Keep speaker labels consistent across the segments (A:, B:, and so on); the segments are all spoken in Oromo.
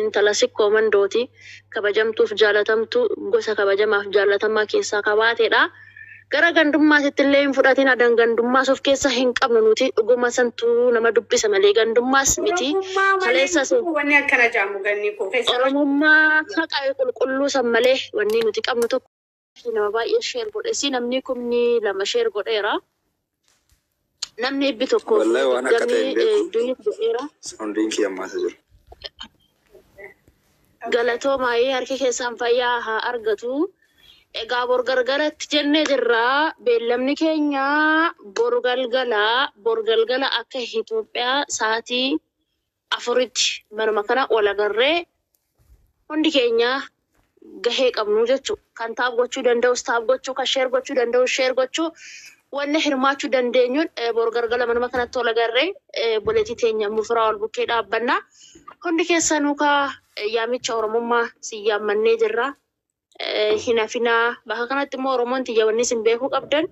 A: Intala Sikkoo Mandooti. Kabajamtuuf jaalatamtuu gosa kabajamaaf jaallatamaa keessaa ka baatedha. Gara gandummaatittillee hin fudhatina, dan gandummaas of keessa hin qabnu nuti. Dhuguma santu nama dubbisa malee gandummaas miti. Oromummaa malee hin Kaleessas jiru wanni akkana
B: jedhamu Gannii koo keessaa. Oromummaa haqa
A: qulqulluu san malee wanni nuti qabnu tokko. Nama baay'ee share godhesi namni kumni lama share godheera. Namni ibbi tokko Wallahi waan akka ta'e
C: hin beeku. du'eef godheera.
A: Soundiin kiyya ammaasa
C: jiru.
A: Galatoomaayee harki keessan fayyaa haa argatu. Egaa bor galgalatti jennee jirra. Beellamni keenya bor galgala bor galgala akka Itoophiyaa sa'aatii afuritti manuma kana wal agarree hundi keenya gahee qabnu jechuu kan taap gochuu danda'us taap gochuu kan sheer gochuu danda'us sheer gochuu wanna hirmaachuu dandeenyuun bor gargala manuma kanatti wal agarree boleetii teenya mufiraa wal bukkee dhaabbanna hundi keessanuu kaa yaamicha oromummaa sin yaammannee jirra eh, hin hafinaa bakka kanatti immoo oromoon tiyya wanni isin beekuu qabdan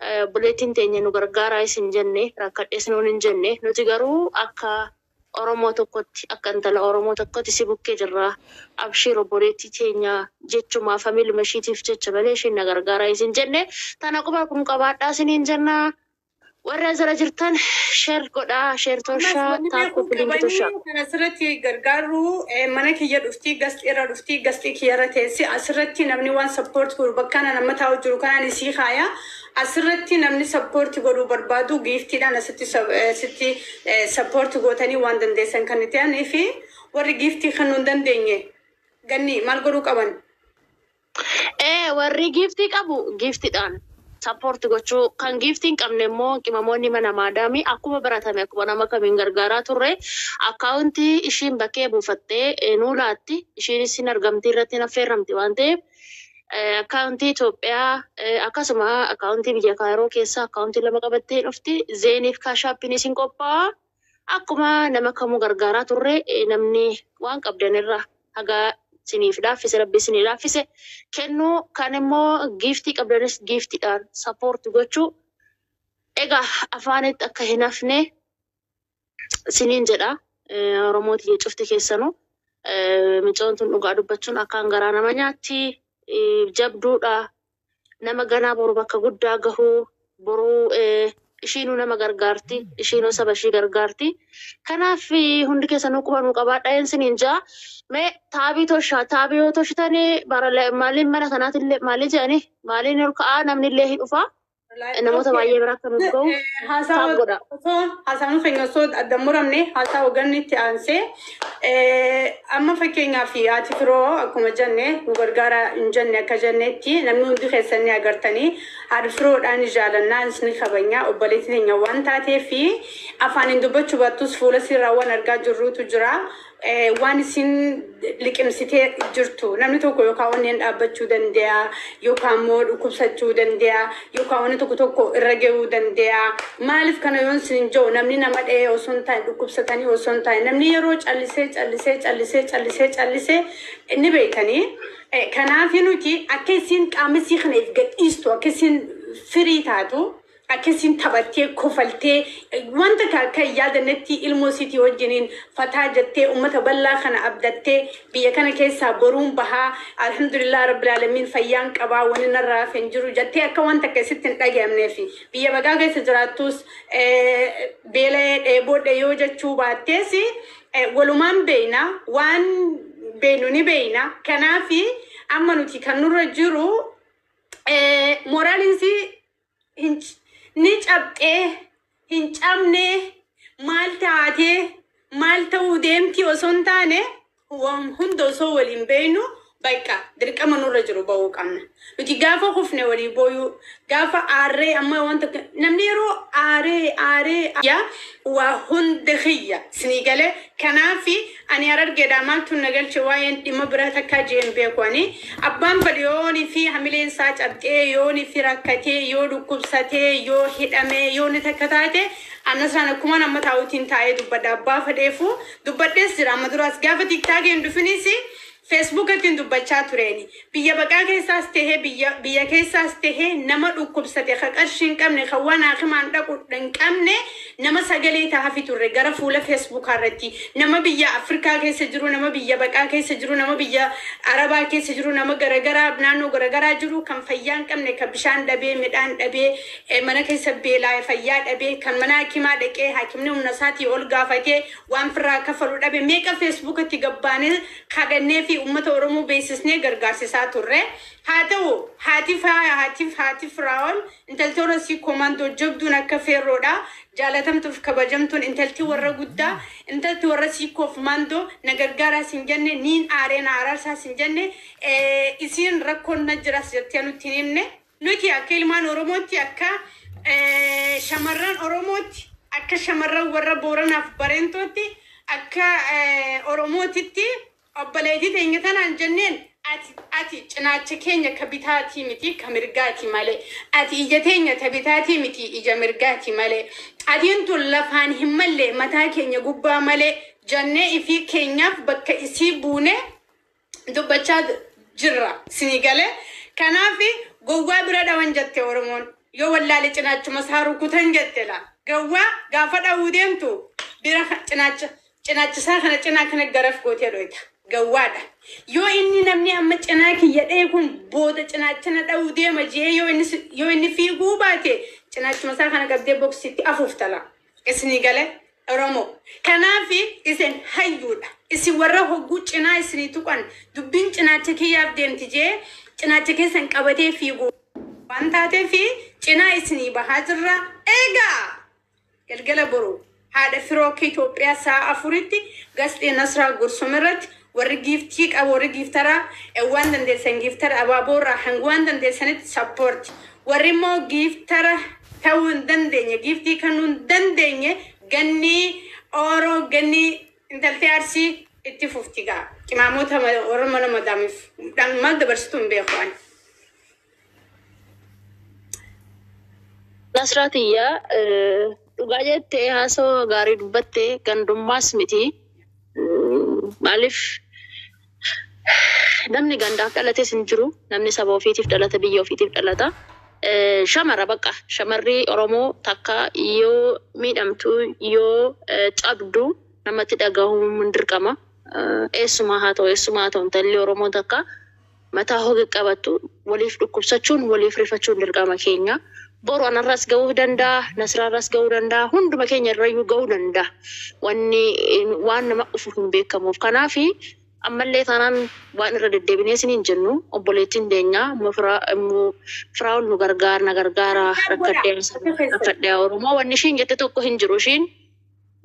A: eh, obboleettiin teenya nu gargaaraa isin jenne rakkadhees nuun hin jenne nuti garuu akka oromoo tokkotti akka intala oromoo tokkotti si bukkee jirra abshiir obboleettii teenya jechumaa familuma ishiitiif jecha malee ishiin na gargaaraa isin jenne tana quba kun qabaadhaa isiniin jennaa Warra as jala jirtan share godhaa share Ammas torshaa wanni taap beekuu koppiliingi qabanii torshaa. kan asirratti
B: gargaarru eh, mana kiyya dhufti gasxii irra dhufti gasxii kiyya irra teessi asirratti namni waan sappoorti godhu bakka ana nama taa'u jiru kanaan isii kaaya asirratti namni sappoorti godhuu barbaadu giiftiidhaan asitti sa- eh, sitti eh, sappoorti gootanii waan dandeessan kan itti aanee fi warri giiftii kennuu hin dandeenye ganni maal godhuu qaban Ee warri
A: giiftii qabu giiftidhaan support gochuu kan giiftii hin qabne immoo qimamoonni mana maadaamii akkuma baratame akkuma nama kamiin gargaaraa turre akkaawuntii ishiin bakkee buufattee eh, nuu laatti ishiinis hin argamtii irratti hin affeerramti waan ta'eef eh, akkaawuntii Itoophiyaa eh, akkasuma akkaawuntii biyya Kaayiroo keessaa akkaawuntii lama qabattee hin dhufti zeeniif kaashaappinis hin qophaa'aa. Akkuma nama kamuu gargaaraa turre namni waan qabdan irraa haga isiniif laaffise rabbi isinii laaffise kennuu kan immoo giiftii qabdanis giiftiidhaan sappoorti gochuu egaa afaanitti akka hin hafne isiniin jedha Oromoo tiyya cufti keessanu micoon tun dhugaa dubbachuun akkaan garaa nama nyaatti jabduudha nama ganaa boru bakka guddaa gahuu boruu ishiinuu nama gargaarti ishiinuu saba ishii gargaarti kanaaf hundi keessanuu quba nuu qabaadha een siniin jaa mee taabii toshaa taabii yoo toshitanii bara maaliin mana kanaatillee maalii jedhanii maaliin ol ka'aa namnillee hin dhufaa namoota baay'ee bira akka nuuf ga'u taaf godha. Haasaan keenya
B: osoo adda muramne haasaa hogganni itti aansee amma fakkeenyaaf haati firoo akkuma jenne nu gargaara hin jenne akka jennetti namni hundi keessan ni agartanii haadha firoodhaan ni jaalannaan ni kabanya obboleetti teenya waan taatee fi afaaniin dubbachuu baattus fuula siirraa waan argaa jirruutu jira eh, waan isin liqimsitee jirtu namni tokko yookaan onneen dhaabbachuu danda'a yookaan immoo dhukkubsachuu danda'a yookaan wanni tokko tokko irra ga'uu danda'a maaliif kana yoon isin jiru namni nama dha'ee osoo hin taane dhukkubsatanii osoo hin taane namni yeroo callisee callisee callisee callisee callisee eh, ni beektanii Eh, kanaaf nuti akka isin qaama isii kana if gadhiistu akka isin firii taatu Akkasiin taphattee, kofaltee, waan takka akka hin yaadannetti ilmoo isiitii wajjiniin fataa jettee, ummata bal'aa kana abdattee, biyya kana keessaa boruun baha, Alhamdulillah Rabbil Aalamiin fayyaan qaba, wanni narraa hafe hin jiru jettee akka waan takka isitti hin dhagayamneefi. Biyya bagaa keessa jiraattuus beela'ee, dheeboodhe yoo jechuu baattees walumaan beeyna, waan beeynu ni beeyna. Kanaafi amma nuti kan nurra jiru moraaliin isii hin c- ni cabxee hin cabnee maal taatee maal ta'uu deemtii osoo hin taane waan hunda osoo waliin beeynu bakka dirqama nurra jiru ba'uu qabna. Nuti gaafa kufne walii booyuu gaafa aarree amma waan tokko namni yeroo aaree aaree yaa waa hunda kiyya sinii galee kanaafi Ani harargeedhaa maaltuun na galche waa'een dhimma biraa takkaa je'ee hin beeku ani. Abbaan bade yoo yoonii fi hamileen isaa cabxee, yoonii fi rakkatee, yoo dhukkubsatee, yoo hidhamee, yoo wanni takka taate, an Nasraan akkumaan amma taa'uutiin taa'ee dubbadha. Abbaa fadheefuu dubbadhees jira amma duraas. Gaafa tiktaakii hin dhufinis Facebook irrattin dubbachaa tureeni. Biyya baqaa keessaas tahee biyya biyya keessaas tahee nama dhukkubsate ka qarshii hin qabne ka waan haakimaan dhaqu hin qabne nama sagalee tahafi turre gara fuula Facebook irratti. Nama biyya Afrikaa keessa jiru nama biyya baqaa keessa jiru nama biyya Arabaa keessa jiru nama garagaraa naannoo garagaraa jiru kan fayyaa hin qabne ka bishaan dhabee midhaan dhabee mana keessa beelaaye fayyaa dhabee kan mana haakimaa dhaqee haakimni humna isaatii ol gaafatee Waan firraa kaffalu dhabe meeqa Feesbuukatti gad baanee kadhannee fi uummata Oromoo beeksisnee gargaarsisaa turre. Haa ta'u, haati Faaya, haati haati Firaa'ol, intalti Orosii Koomaandoo jabduun akka Feerroo dha, jaalatamtuu fi kabajamtuun intalti warra guddaa, intalti warra Siikoo fi Maandoo na gargaaraa sin jenne, niin aaree na araarsaa sin jenne, isiin rakkoon na jiraas jettee nutti hin himne. Nuti akka ilmaan Oromootti, akka shamarran Oromootti, akka shamarran warra Booranaaf Bareentootti, akka Oromootitti obboleettii teenya tanaan jenneen, ati, ati cinaacha keenya ka bitaatii miti, ka mirgaati malee. Ati ija teenya ta bitaatii miti, ija mirgaati malee. Qatiin tun lafaan hin malle, mataa keenya gubbaa malee, jannee ifii keenyaaf bakka isii buunee, dubbachaa jirra sinii galee kanaaf gowwaa bira dhawan jette oromoon yoo wallaale cinaachuma isaa rukutan jette la gowwaa gaafa dhawuu deemtu bira ka- cinaacha cinaachisaa kana cinaa kana garaf gootee dhoyta gowwaadha yoo inni namni amma cinaa kiyya dhee kun booda cinaachana dhawuu deema jee yoo inni si- yoo inni fiiguu baate cinaachuma isaa kana qabdee boksitti afuuftala Isinii galee? Oromoo. Kanaafi isin hayyuudha. Isin warra hogguu cinaa isinii tuqan dubbiin cinaacha kiyyaaf deemti jee cinaacha keessan qabatee fiigu waan taateefi cinaa isinii bahaa jirra. Eegaa! Galgala boru haadha firoo akka Itoophiyaa sa'a afuritti Gasxee Nasraa Gursum irratti Warri giiftii qabu warri giiftara e waan dandeessan giiftara abaaboo irraa hanga waan dandeessanitti support warri immoo giiftara ta'uu hin dandeenye giiftii kannuu hin dandeenye gannii oro gannii intaltee arsii itti fufti gaa qimaamoota warra mana madaamiif dhaan maal dabarsitu hin beeku ani.
A: Nasraa tiyya dhugaa jette haasoo gaarii dubbatte gandummaas miti maaliif namni gandaaf dhalates hin jiru namni saba ofiitiif dhalata biyya ofiitiif dhalata shamara baqa shamarri oromoo takka yoo miidhamtu yoo cabdu namatti dhagahuun dirqama eessumaa haa ta'u eessumaa haa ta'u intalli oromoo takka Mataa hoga qabattu waliif dhukkubsachuun, waliif rifachuun dirqama keenya. Boru anarras gahuu danda'a, Nasraarras gahuu danda'a, hunduma keenya irrayyuu gahuu danda'a. Wanni waan nama dhufu hin beekamuuf. Kanaaf ammallee taanaan waan irra deddeebinee isiniin jennu obboleettiin teenya Ummu Firaa'ol nu gargaar na gargaara rakkadhee rakkadhee Oromoo wanni ishiin jette tokko hin jiru ishiin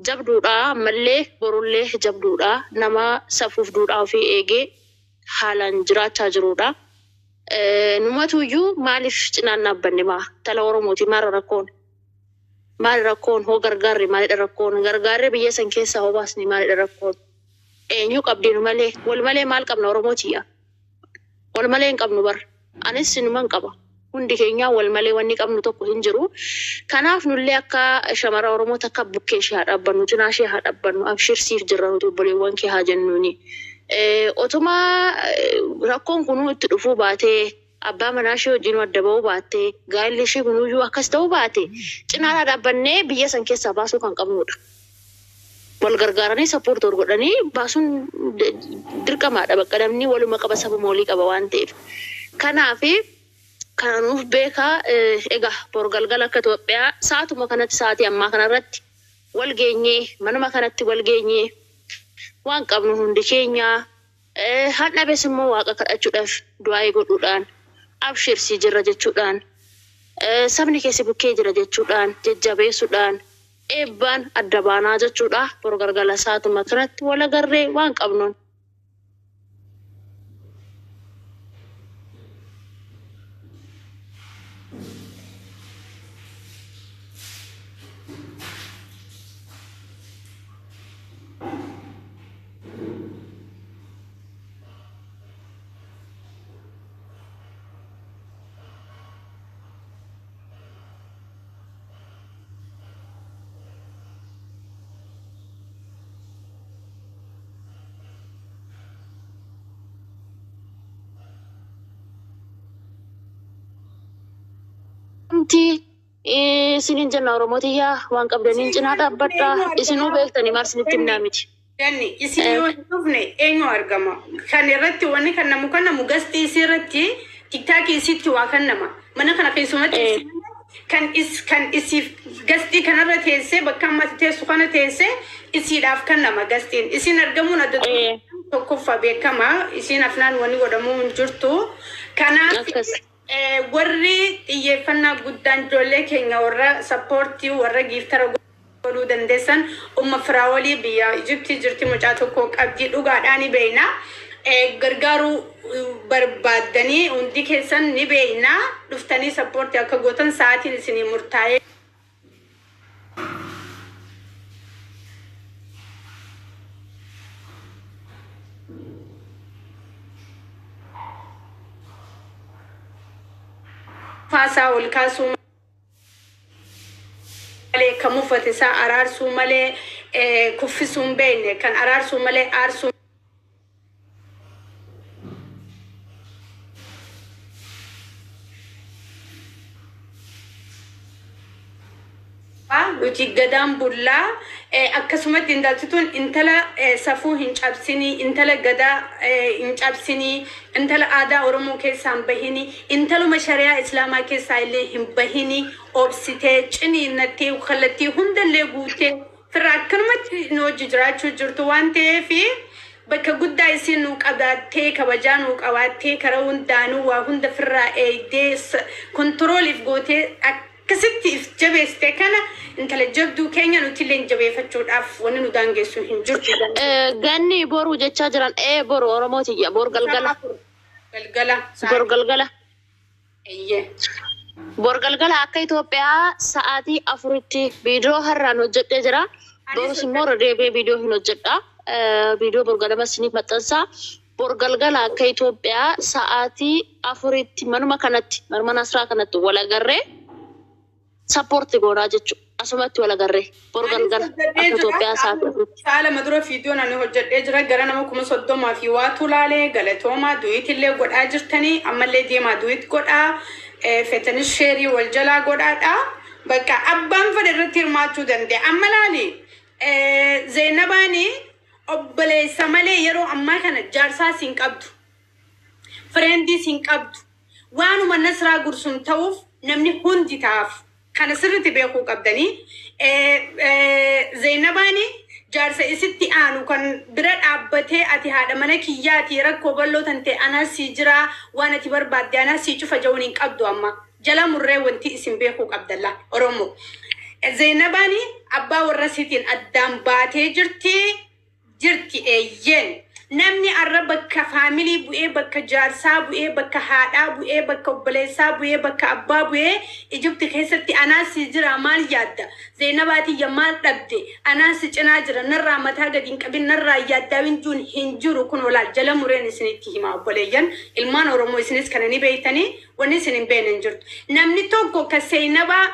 A: jabduudha ammallee borullee jabduudha nama safuuf duudhaa ofii eegee haalaan jiraachaa jiruudha. Numatu iyyuu maaliif cinaan dhaabbanne maa tala Oromooti maarra rakkoon maali rakkoon hoo gargaarre maalidha rakkoon gargaarre biyya san keessaa hoo baasne maalidha rakkoon eenyu qabdinu malee wal malee maal qabna Oromooti yaa wal malee hin qabnu bar Anis sinuman qaba. Hundi keenyaa wal malee wanni qabnu tokko hin jiru. Kanaaf nullee akka shamara Oromoo takka bukkee ishee haa dhaabbannu, cinaa ishee haa dhaabbannu, abshir siif jirra nuti obboleewwan kee haa jennuuni. Otuma rakkoon kunuu itti dhufuu baatee, abbaa manaa ishee wajjinuu adda ba'uu baattee, gaa'illi ishee kunuyyuu akkas ta'uu baate, cinaa dhaa dhaabbannee biyya san keessaa baasuu kan qabnuu dha. wal gargaaranii support wal godhanii baasuun dirqamaadha bakka namni waluma qaba sabuma walii qaba waan ta'eef kanaafi kana nuuf beekaa egaa bor galgala akka Itoophiyaa saatuma kanatti saatii ammaa kanarratti wal geenyee manuma kanatti wal geenyee waan qabnu hundi keenyaa han dhabes immoo waaqa kadhachuudhaaf du'aa'ee godhuudhaan abshirsii jirra jechuudhaan sabni keessi bukkee jira jechuudhaan jajjabeessuudhaan Eebbaan adda baanaa jechuudha. Boru galgala saatuma kanatti wal agarree waan qabnuun. Wanti isiniin jenna Oromoo tiyyaa waan qabdaniin cinaa dhaabbadha. Isinuu beektanii maal isinitti himnaa miti. Danni isin
B: yoo hin dhufne eenyu argama kan irratti wanni kannamu kannamu gasti isii irratti tiktaakii isiitti waa kannama mana kana keessumatti Eh. isin kan is kan isiif gastii kanarra teessee bakka ammatti teessu kana teessee isiidhaaf kannama gastiin isiin argamuun adda duree Eh. tokkoffaa beekama isiin afnaan wanni godhamuu hin jirtu kanaaf Akkas. Warri xiyyeeffannaa guddaan joollee keenya warra support warra giiftara godhuu dandeessan umma firaawolii biyya ijiptii jirti mucaa tokkoo qabdii dhugaadhaa ni beeyna gargaaruu barbaaddanii hundi keessan ni beeyna dhuftanii support akka gootan sa'aatiin isinii murtaa'ee faasaa ol kaasuu malee kan muffate isaa araarsuu malee eh, kuffisuu hin beekne kan araarsuu malee aarsuu nuti gadaan bullaa akkasumatti intaltituun intala safuu hin cabsinii intala gadaa hin cabsinii intala aadaa oromoo keessaa hin bahini intaluma shari'aa islaamaa keessaa illee hin bahini obsitee ciniinnattee kallattii hundallee guuttee Firra akkanumatti nu wajji jiraachuu jirtu waan ta'eef bakka guddaa isiin nuu qabaattee kabajaa nuu qabaattee karaa hundaanuu waa hunda firraa eeydee control if gootee akkasitti if jabeessite kana intala jabduu keenya nutilleen jabeefachuudhaaf wanni nu daangeessu hin jirtu jennee Ganni
A: boru jechaa jiran ee boru oromoo tiyya bor galgala galgala bor sa'aatii galgala. Eeyyee. Bor galgala akka Itoophiyaa sa'aatii afuritti viidiyoo har'aan hojjedhee jira. Borus immoo irra deebi'ee viidiyoo hin hojjedha. Eh, Viidiyoo bor ganama isiniif maxxansa. Bor galgala akka Itoophiyaa sa'aatii afuritti manuma kanatti, manuma Nasraa kanatti wal agarree. Support si goonaa jechu. Asumatti wal agarree. Boru Anis galgala hojjedhee akka jira. Itoophiyaa Sa'a sa'aatii afuritti. sa'a lama dura viidiyoon
B: ani hojjedhee jira. Gara nama kuma soddoma fi waatu laale. Galatoomaa. Duwiit illee godhaa jirtanii. Ammallee deemaa duwiit godhaa. Eh, Feetanis sheerii wal jalaa godhaadha. Bakka abbaan fedhe irratti hirmaachuu danda'a. Amma laali. Eh, Zeenabaani obboleessa malee yeroo ammaa kana jaarsaas hin qabdu. Friends hin qabdu. Waanuma Nasraa Gursum ta'uuf namni hundi ta'aaf. Kana sirriti beekuu qabdani. Zeynabaani jaarsa isitti aanu kan bira dhaabbatee ati haadha mana kiyyaati rakkoo bal'oo tantee anaa sii jiraa waan ati barbaadde anaa sii cufa ja'uun hin qabdu amma. Jala murree wanti isin beekuu qabdan la Oromoo. Zeynabaani abbaa warra isiitiin addaan baatee jirti. jirti eeyyeen. Namni arra bakka family bu'ee bakka jaarsaa bu'ee bakka haadhaa bu'ee bakka obboleessaa bu'ee bakka abbaa bu'ee Egypt keessatti anaa sii jiraa maal yaadda Zeenabaa tiyya maal dhabde anaa si cinaa jira narraa mataa gadi hin qabin narraa hin yaaddaawin juun hin jiru kunoo laal jala mureen isinitti himaa obboleeyyan ilmaan oromoo isinis kana ni beeytanii wanni isin hin beeyne hin jirtu namni tokko ka seenabaa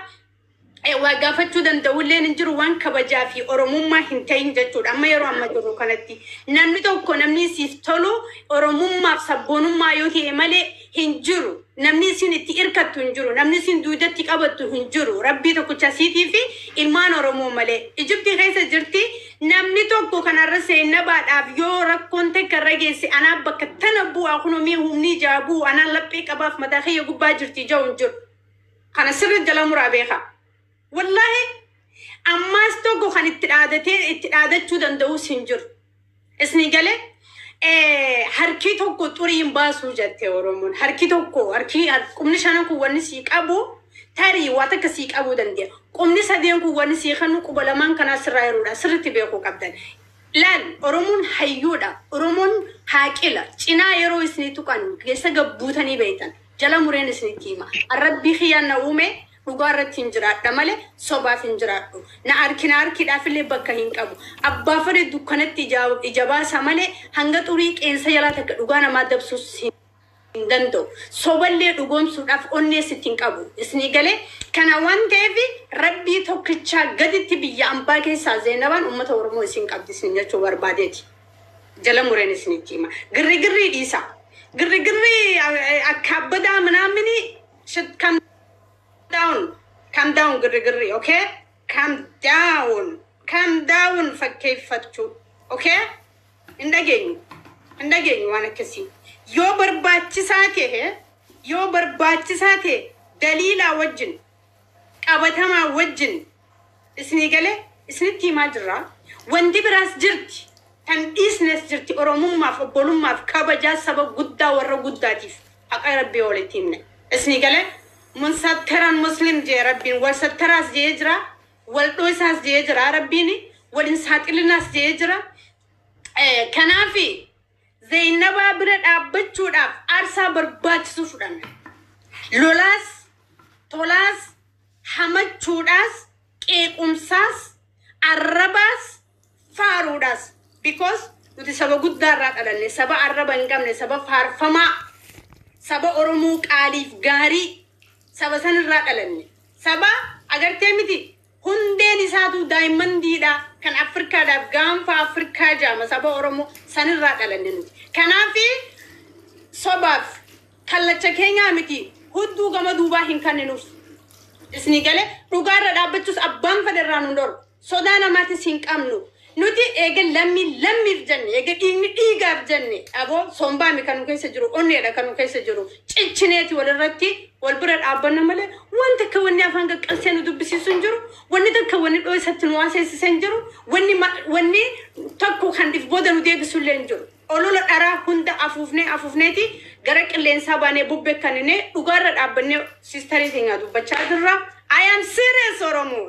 B: eh, waa gaafachuu danda'ulleen hin jiru waan kabajaa fi oromummaa hin ta'in jechuudha. Amma yeroo amma jirru kanatti namni tokko namni siif tolu oromummaaf sabboonummaa yoo ta'e malee hin jiru. Namni isin itti irkattu hin jiru. Namni isin duudatti qabattu hin jiru. Rabbii tokkicha siitii fi ilmaan Oromoo malee. Ijibtii keessa jirti namni tokko kanarra seennabaadhaaf yoo rakkoon takka irra geesse anaa bakka tana bu'aa kunomii humni ijaa bu'u anaan laphee qabaaf mataa kiyya gubbaa jirti ijaa hin jiru. Kana sirri jala muraa beeka. Wallahi ammaas tokko kan itti dhaadatee itti dhaadachuu danda'us hin jiru. Isni galee eh, harkii tokko xurii hin baasuu jette Oromoon. Harkii tokko harkii har- qubni shanan kun wanni sii qabu tarii waa takka sii qabuu danda'a. Qubni sadeen kun wanni sii kennu quba lamaan kanaa sirraa heruudha. Sirritti beekuu qabdan. Laal Oromoon hayyuudha. Oromoon haaqila. Cinaa yeroo isni tuqan keessa gabbuutanii beektan. jala mureen isinitti hima. An Rabbii kiyya na uume dhugaa irratti hin jiraadha malee sobaaf hin jiraadhu. Na arki na arkiidhaafillee bakka hin qabu. Abbaa fedhe dukkanatti ijaa ija baasa malee hanga xurii qeensa jalaa takka dhugaa namaa dabsuus hin hin danda'u. Soballee dhugoomsuudhaaf onnees itti hin qabu. Isnii galee? Kana waan ta'eef Rabbii tokkichaa gaditti biyya ambaa keessaa Zeenabaan ummata Oromoo isiin qabdi isiniin jechuu barbaadeeti. jala mureen isinitti hima. Girrigirrii dhiisa. Girrigirrii eh, akka abbadaa minaamini shit kam down kam down girrigirrii okay kam down kam down fakkeeffachuu okay hin dhageenyu hin dhageenyu waan akkasii yoo barbaachisaa ta'e yoo barbaachisaa ta'e daliilaa wajjin qabatamaa wajjin Isinii galee? Isinitti himaa jirra. Wanti biraas jirti. Tan dhiisnes jirti. Oromummaaf, obbolummaaf, kabajaa saba guddaa warra guddaatiif haqa Rabbii walitti himne. Isinii galee? Munsattaran Muslim jee Rabbiin. Wal sattaraas je'ee jira. Wal dhooysaas je'ee jira Rabbiin. Wal hin saaxilinaas je'ee jira. Kanaafi. Zeyinabaa bira dhaabbachuudhaaf aarsaa barbaachisu fudhanna. Lolaas, tolaas, hamachuudhaas, qeequmsaas, arrabaas, faaruudhaas. Because nuti saba guddaa irraa dhalanne, saba arraba hin qabne, saba faarfamaa, saba Oromoo qaaliif gaarii, saba san irraa dhalanne. Saba agartee miti Hundeen isaatuu Daayimandii dha. Kan Affirkaa dhaaf Gaanfa Affirkaa jaama saba Oromoo. San irraa dhalanne nuti. Kanaafi sobaaf kallacha keenyaa miti hudduu gama duubaa hin kanninuuf. Isni gale dhugaa irra dhaabbachuus abbaan fade irraa nun dhorku. Sodaa namaatis hin qabnu. Nuti eega lammiin lammiif jenne, eega dhiigni dhiigaaf jenne, abo sombaami kan nu keessa jiru, onneedha kan nu keessa jiru. Cichineeti wal irratti wal bira dhaabbanna malee waan takka wanni afaan qaqqalsee nu dubbisiisu hin jiru, wanni takka wanni dhooysatti nu haaseessise hin jiru, wanni ma, wanni tokko kan if booda nu deebisu illee hin jiru. Olola dharaa hunda afuufnee afuufneeti gara qilleensaa baanee bubbee kanninee dhugaa irra dhaabbannee sistarii teenyaa dubbachaa jirra. I am serious Oromoo!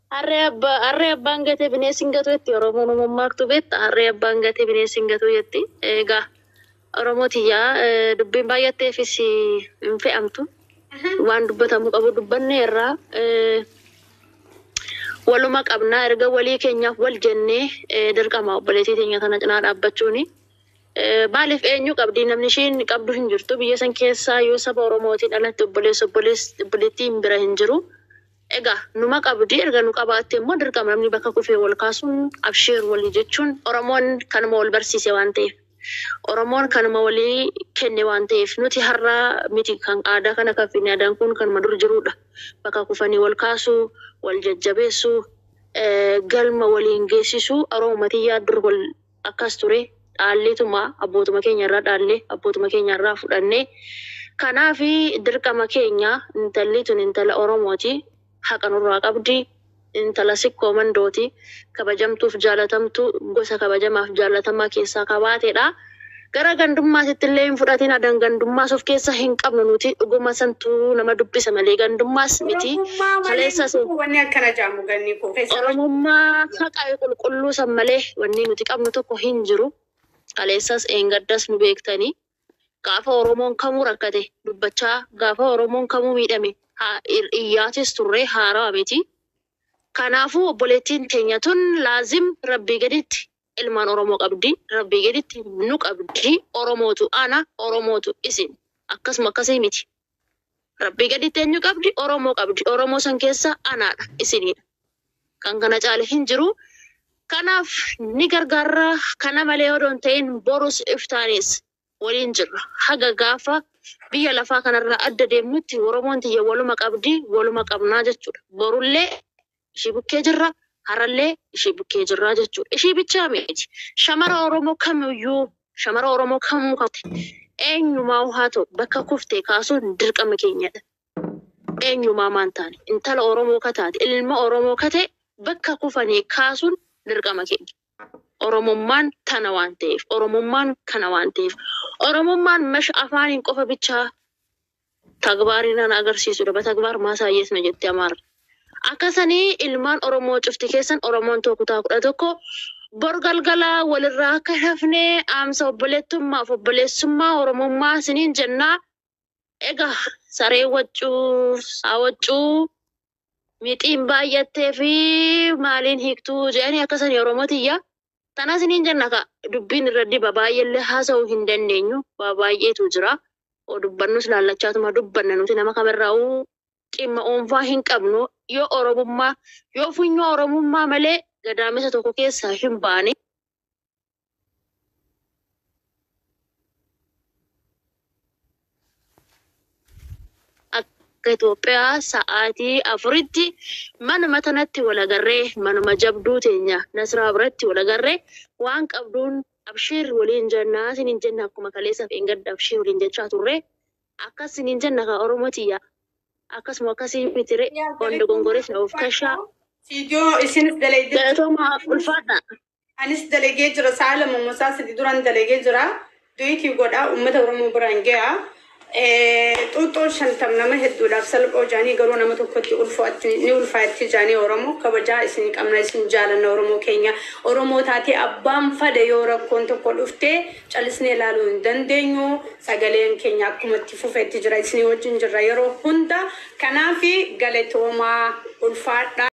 A: Harree abba harree abbaan gatee bineensi hin gatuu jetti Oromoon nu mammaaktu beekta harree abbaan gatee bineensi hin gatuu jetti egaa Oromoo tiyyaa eh, dubbiin baay'atteefis hin fe'amtu waan dubbatamuu qabu dubbannee irraa eh, waluma qabna erga walii keenyaaf wal jennee eh, dirqama obboleettii teenya tana cinaa dhaabbachuuni. Eh, Maaliif eenyu qabdi namni ishiin qabdu hin jirtu biyya san keessaa yoo saba Oromootiin alatti obboleessa obboleess- obboleettiin bira hin jiru. Egaa numa qabdi erga nu qabaatte immoo dirqama namni bakka kufee wal kaasuun abshiir walii jechuun Oromoon kanuma wal barsiise waan ta'eef Oromoon kanuma walii kenne waan ta'eef nuti har'a miti kan aadaa kana kan fidne aadaan kun kanuma dur jiruudha bakka kufanii wal kaasuu wal jajjabeessuu galma waliin geessisuu Oromumatii yaa dur wal akkas ture, dhaalleetuma abbootuma keenya irraa dhaalle, abbootuma keenya irraa fudhanne. Kanaaf dirqama keenya, intalli tun intala Oromooti, haqa nurraa qabdi, intala Sikkoo Mandooti, kabajamtuuf jaalatamtuu, gosa kabajamaaf jaallatamaa keessaa ka baatedha. Gara gandummaatitti illee hin fudhatin adan gandummaas of keessa hin qabnu nuti dhuguma santu nama dubbisa malee gandummaas miti Oromummaa malee kaleessa hin jiru wanni akkana
B: jedhamu ganni koo keessa Oromoo Oromummaa haqa
A: qulqulluu san malee wanni nuti qabnu tokko hin jiru kaleessas dheengaddas nu beektanii gaafa Oromoon kamuu rakkate dubbachaa gaafa Oromoon kamuu miidhame haa ir- iyyaatis turree haarawa miti kanaafuu obboleettiin teenya tun laazim rabbii gaditti ilmaan oromoo qabdi rabbii gaditti nu qabdi oromootu ana oromootu isin akkasuma akkasii miti rabbii gaditti eenyu qabdi oromoo qabdi oromoo san keessa anaadha isiniidha kan kana caale hin jiru kanaaf ni gargaarra kana malee odoo hin ta'in borus iftaanis waliin jirra haga gaafa biyya lafaa kanarraa adda deemnutti oromoon tiyya waluma qabdi waluma qabnaa jechuudha borullee ishii bukkee jirra, har'allee ishii bukkee jirra jechuudha. Ishii bichaa miti. Shamara Oromoo kamiyyuu, shamara Oromoo kamuu kate eenyumaa haa ta'u bakka kuftee kaasuun dirqama keenyadha. Eenyumaa maan taane intala Oromoo kataate, ilma Oromoo kate bakka kufanii kaasuun dirqama keenya. Oromummaan tana waan ta'eef, Oromummaan kana waan ta'eef, Oromummaan mash afaaniin qofa bichaa Tagbaarinaan agarsiisudha Batagbaar maasaayyees no jetti Amaarri. Akka sanii ilmaan Oromoo cufti keessan Oromoon too kutaa 11 bor galgala walirraa akka hin hafne dhaamsa obboleettummaaf obboleessummaa Oromummaa isiniin jenna. Egaa sareen waccuu saa waccuu. mixiin baay'attee fi maaliin hiiktuu jedhanii akkasanii Oromoo tiyya. Tanas niin jenna ka dubbiin irra diba baay'eellee haasa'uu hin dandeenyu waa baay'eetu jira. Oo dubbannus laallachaatuma dubbanna nuti nama kamirraa'uu dhimma oonfaa hin qabnu yoo Oromummaa yoo funyoo Oromummaa malee gadaamessa tokko keessaa hin baane. akka Itoophiyaa sa'aatii afuritti manuma tanatti wal agarree manuma jabduu teenya Nasraa biratti wal agarree waan qabduun abshiir waliin jennaa siniin jenna akkuma kaleessaaf eengadda abshiir waliin jechaa turre akkas siniin jenna kaa Oromoo tiyya akkasuma akkasii mitire waan dogongoreef na of kashaa Fiidiyoo
B: isinis daleedde. galatoomaa ulfaadha.
A: Anis
B: dalagee jira sa'a lama moo sa'a sadi duran dalagee jira duyitii godha ummata oromoo biraan ga'a xuuxxoon shantam nama hedduudhaaf salphoo jaanii garuu nama tokkotti ulfo'atti ni ulfaa'etti jaanii oromoo kabajaa isin qabna isin jaalanna oromoo keenya oromoo taatee abbaan fada yoo rakkoon tokko dhuftee calisnee ilaaluu hin dandeenyu sagaleen keenya akkumatti fufetti jira isinii wajjin jirra yeroo hunda kanaafi galatoomaa ulfaadha